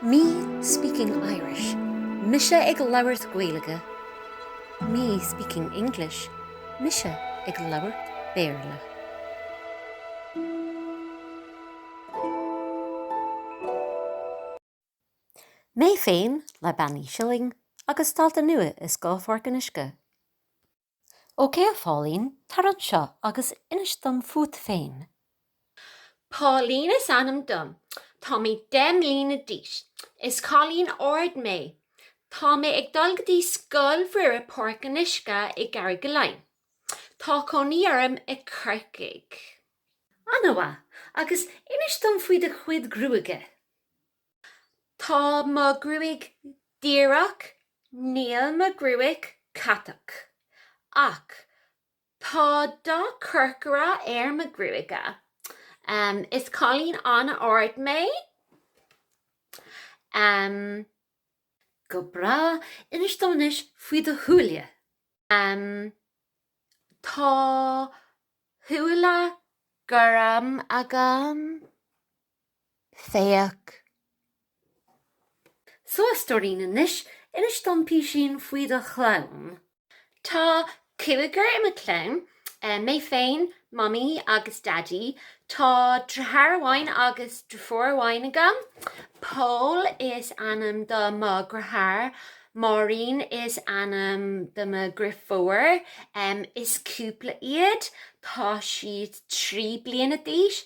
Me speaking Irish, mise ag labhairt Gaeilge. Me speaking English, mise ag labhairt Béarla. Mé féin le Bean Uí Shilling agus dalta nua i Scoil Pháirc an Uisce. OK a Pháilín, tar anseo agus inis dom fút féin. Páilín is ainm dom. Tá mé deich mbliana d'aois. Is cailín ard mé. Tá mé ag dul go dtí Scoil Mhuire Páirc an Uisce i gCarrigaline. Tá cónaí orm i Corcaigh. Ana mhaith. Agus inis dom faoi do chuid gruaige. Tá mo gruaig díreach, níl mo gruaig catach. Ach tá dath corcra ar mo gruaige. Is cailín an-ard mé. Go breá, inis dom anois faoi do shúile. Tá súile gorma agam. Féach. So a stóirín, anois. inis dom píosaín faoi do chlann. Tá cúigear i mo chlann. Mé féin, Mamaí agus Daidí. Tá dritheár amháin agus drifiúr amháin agam. Pól is ainm do mo dhritheár. Máirín is ainm do mo dhrifiúr. Is cúpla iad. Tá siad trí bliana d'aois.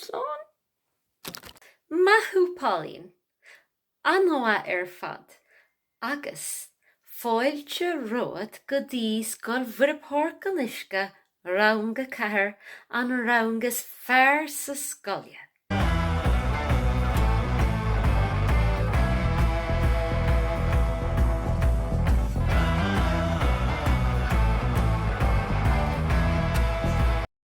Slán. Maith thú Pauline. An-mhaith ar fad. Agus, fáilte romhat go dtí Scoil Mhuire Páirc an Uisce, Rang a Ceathair, an rang is fearr sa scoile!